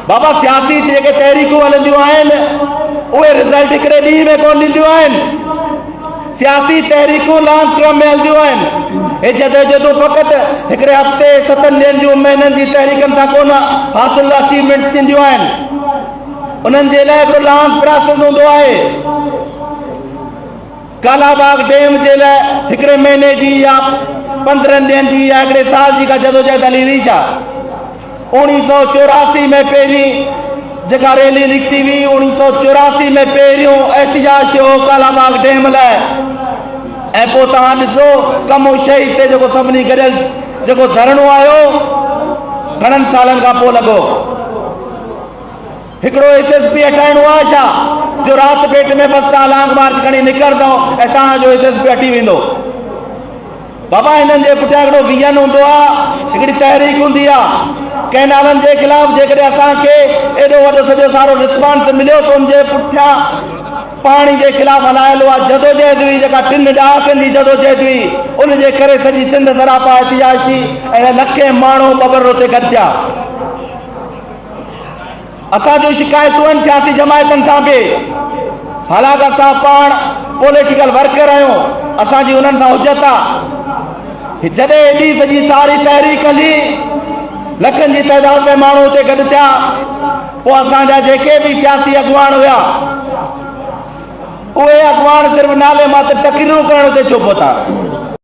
بابا سياسي جيڪي تحريڪون هلنديون آهن اهي رزلٽ هڪڙي ڏينهن ۾ ڪون ڏينديون آهن سياسي تحريڪون لانگ ٽرم ۾ هلنديون آهن هي جدوجهدون فقط هڪڙي هفتي ستن ڏينهن جون مهينن جي تحريڪن سان ڪون حاصل اچيومينٽس ٿينديون آهن انهن جي لاء هڪڙو لانگ پراسيس هوندو آهي ڪالا باغ ڊيم جي لاء هڪڙي مهيني جي يا پندرهن ڏينهن جي يا هڪڙي سال جي ڪا جدوجهد هلي هئي ڇا؟ اوڻيهه سؤ چوراسي ۾ پهرين جيڪا ريلي نڪتي هئي، اوڻيهه سؤ چوراسي ۾ پهريون احتجاج ٿيو هو ڪالا باغ ڊيم لاء ۽ پوء توهان ڏسو ڪم هو شهيد تي جيڪو سڀني گڏيل جيڪو ڌرڻو آيو گهڻن سالن کان پوء لڳو. هڪڙو ايس ايس پي هٽائڻو آهي ڇا جو رات پيٽ ۾ بس تان لانگ مارچ کڻي نڪرندو ۽ تان جو ايس ايس پي هٽي ويندو بابا هنن جي پٺيان هڪڙو ويزن هوندو آهي هڪڙي تحريڪ هوندي آهي ڪنهن نالن جي خلاف جيڪڏهن اسان کي ايڏو وڏو سڄو سارو رسپانس مليو ته ان جي پٺيان پاڻي جي خلاف هلايل اها جدوجهد هئي جيڪا ٽن ڏهاڪن جي جدوجهد هئي ان جي ڪري سڄي سنڌ سراپا احتجاج ٿي ۽ لکين ماڻهو ٻٻر اتي گڏجا اسان جون شڪايتون آهن سياسي جماعتن سان به حالانڪ اسان پاڻ پوليٽيڪل ورڪر آهيون اسان جي انهن سان حجت آهي جڏهن ايڏي سڄي ساري تحريڪ هلي لکن جي تعداد ۾ ماڻهو اتي گڏ ٿيا پوء اسان جا جيڪي به سياسي اڳواڻ هيا اهي اڳواڻ صرف نالي ماتر تقريرون ڪرڻ اتي ڇو پهتا